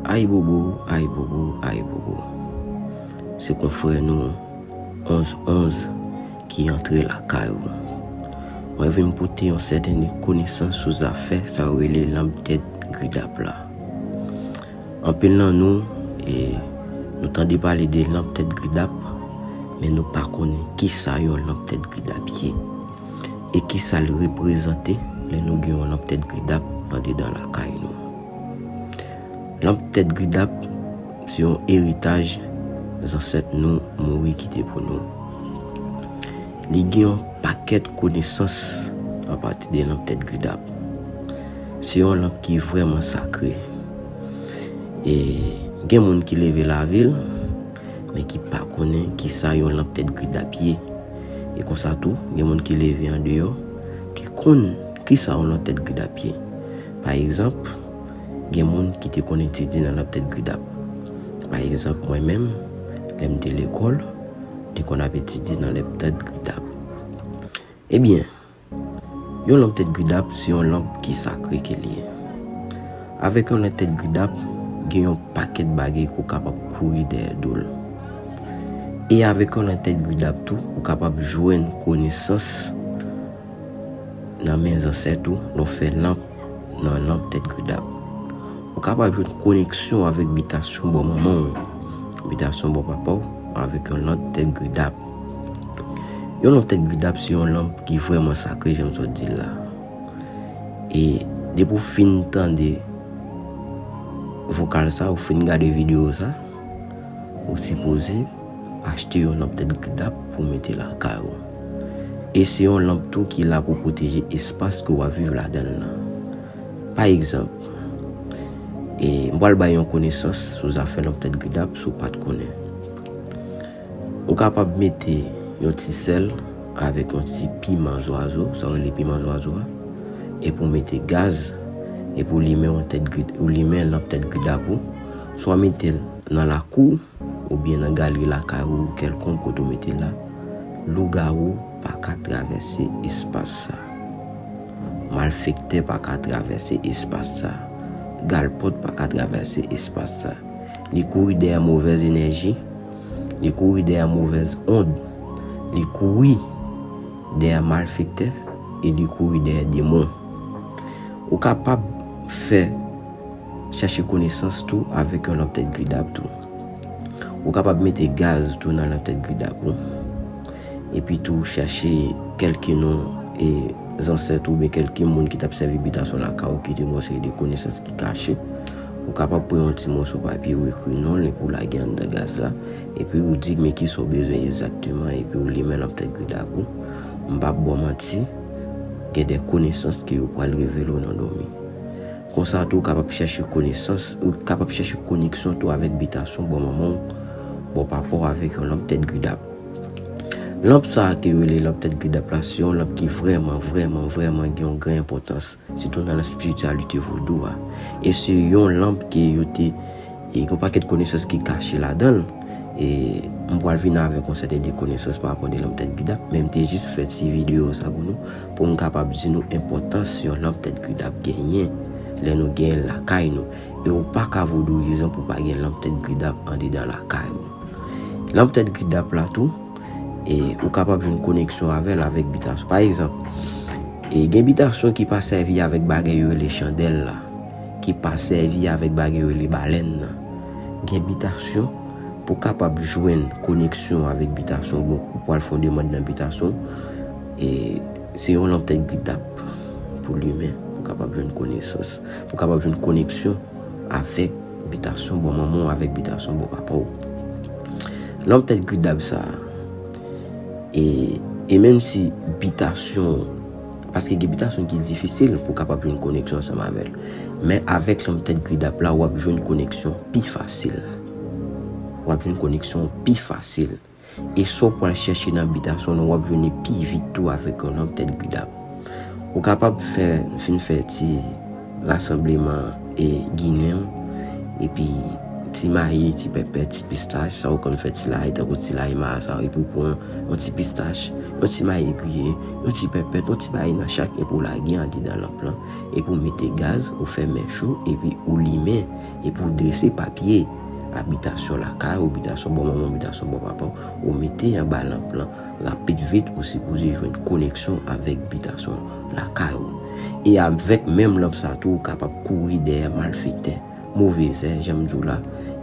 Ayibobo ayibobo ayibobo se konfrè nou 11 11 ki antre lakay ou mwen vin pote yon sèten konesans sou zafè sa yo rele lanp tèt gridap la anpil nan nou e nou tande pale de lanp tèt gridap men nou pa konnen kisa yon lanp tèt gridap ye e kisal reprezante lè nou gen yon lanp tèt gridap andedan lakay nou. Lanp tèt Gridap se yon eritaj zansèt nou mouri kite pou nou. Li gen yon pakèt konesans apati de lanp tèt Gridap. Se yon lanp ki vrèman sakre. E gen moun ki leve lavil, men ki pa konnen ki sa yon lanp tèt Gridap ye. E konsa tou, gen moun ki leve an deyò, ki konn ki sa yon lanp tèt Gridap ye. Pa egzanp, gen moun ki te konn etidye nan lòt tèt Gridap. Pa egzanp, mwen menm, lè m te lekòl, m te konn ap etidye nan lèp tèt Gridap. Ebyen, yon lanp tèt Gridap se yon lanp ki sakre ke l ye. Avèk yon lanp tèt Gridap, gen yon pakèt bagay ke w kapab kouri dèyè do l. E avèk yon lanp tèt Gridap tou, ou kapab jwenn konesans. Nan men zansèt ou, lè w fè lanp nan lanp tèt gridap. Ou kapab jwenn koneksyon avèk bitasyon bò manman w, bitasyon bò papa w avèk yon lanp tèt gridap. Yon lanp tèt gridap se yon lanp ki vrèman sakre jan m sot di l la. E depi w fin tande vokal sa, ou fin gade videyo sa, ou sipoze Achte yon lanp tèt gdap pou w mete lakay ou. E se yon lanp tou ki la pou pwoteje espas ke w ap viv ladan l lan. Pa egzanp, e m pral bay yon konesans sou zafè lanp tèt gdap si w pa t konnen. Ou kapab mete yon ti sèl avèk yon ti piman zwazo, sa yo rele piman zwazo a, epi w mete gaz, epi w limen yon tèt, ou limen lanp tèt gdap ou, swa mete l nan lakou w, Oubyen nan galri lakay ou kèlkonk kote ou mete la, lougawou pa ka travèse espas sa. Malfektè pa ka travèse espas sa. Galpòt pa ka travèse espas sa. Li kouri dèyè movèz enèji, li kouri dèyè movèz ond, li kouri dèyè malfektè e li kouri dèyè demon. Ou kapab fè. Chache konesans tou avèk yon lanp tèt gridap tou. Ou kapab mete gaz tou nan lanp tèt gridap ou. Epi tou chache kelke non e zansèt ou oubyen kelke moun ki tap sèvi bitasyon lakay ou ki te gen yon seri de konesans ki kache. Ou kapab pran yon ti moso papye ou ekri non l epi ou lage anndan gaz la. Epi ou di men kisa ou bezwen egzakteman epi ou limen lanp tèt gridap ou. M pap ba w manti, gen de konesans ke yo pral revele w nan dòmi. Konsa tou w kapab chèche konesans, ou kapab chèche koneksyon tou avèk bitasyon bò manman w, bò papa w avèk yon lanp tèt gridap. Lanp sa a ke yo rele lanp tèt gridap la se yon lanp ki vrèman, vrèman, vrèman gen yon gran enpòtans, sitou nan espirityalite vodou a. E se yon lanp ke yo te. E gen yon pakèt konesans ki kache ladan l. E m pral vini avèk yon sèten de konesans pa rapò de lanp tèt Gidap. Men m te jis fè ti videyo sa pou nou, pou m kapab di nou enpòtans yon lanp tèt Gridap genyen, lè nou genyen l lakay nou. E ou pa ka vodouyizan pou pa gen lanp tèt Gridap andedan lakay ou. Lanp tèt Gridap la tou, e ou kapab jwenn koneksyon avè l avèk bitasyon. Pa egzanp, e gen bitasyon ki pa sèvi avèk bagay yo rele chandèl la. ki pa sèvi avèk bagay yo rele balèn nan, gen bitasyon, pou w kapab jwenn koneksyon avèk bitasyon bon ou pwal fè yon demand nan bitasyon e se yon lanp tèt gridap pou w limen pou w kapab jwenn konesans pou w kapab jwenn koneksyon avèk bitasyon bò manman w avèk bitasyon bò papa w lanp tèt gridap sa e e menm si bitasyon Paske gen bitasyon ki difisil pou kapab jwenn koneksyon ansanm avè l. Men avèk lanp tèt Gridap la wap jwenn koneksyon pi fasil. Wap jwenn koneksyon pi fasil. E sa w pral chèche nan bitasyon nou wap jwenn li pi vit tou avèk yon lanp tèt Gridap. Ou kapab fè, fin fè ti. Rasanbleman e ginen w epi ti mayi, ti pèpè, ti pistach sa ou konn fè ti layi tankou ti layi marasa epi ou pran yon ti pistach, yon ti mayi griye, yon ti pèpèt, yon ti mayi nan chak epi ou lage andedan lanp lan epi ou mete gaz ou fè mèch ou epi ou limen epi ou drese papye abitasyon lakay ou, bitasyon bò manman w, bitasyon bò papa w, ou mete anba lanp lan. Rapid vit ou sipoze jwenn koneksyon avèk bitasyon lakay ou. E avèk menm lanp sa tou ou kapab kouri dèyè malfektè, move zè jan m di w la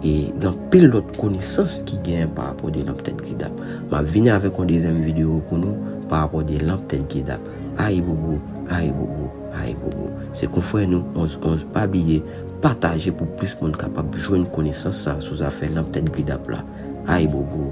e gen anpil lòt konesans ki genyen pa rapò de lanp tèt gridap. M ap vini avèk yon dezyèm videyo pou nou pa rapò de lanp tèt gridap. Ayibobo, ayibobo, ayibobo. Se konfrè nou 11 11 pa bliye pataje pou plis moun kapab jwenn konesans sa sou zafè lanp tèt gridap la. Ayibobo.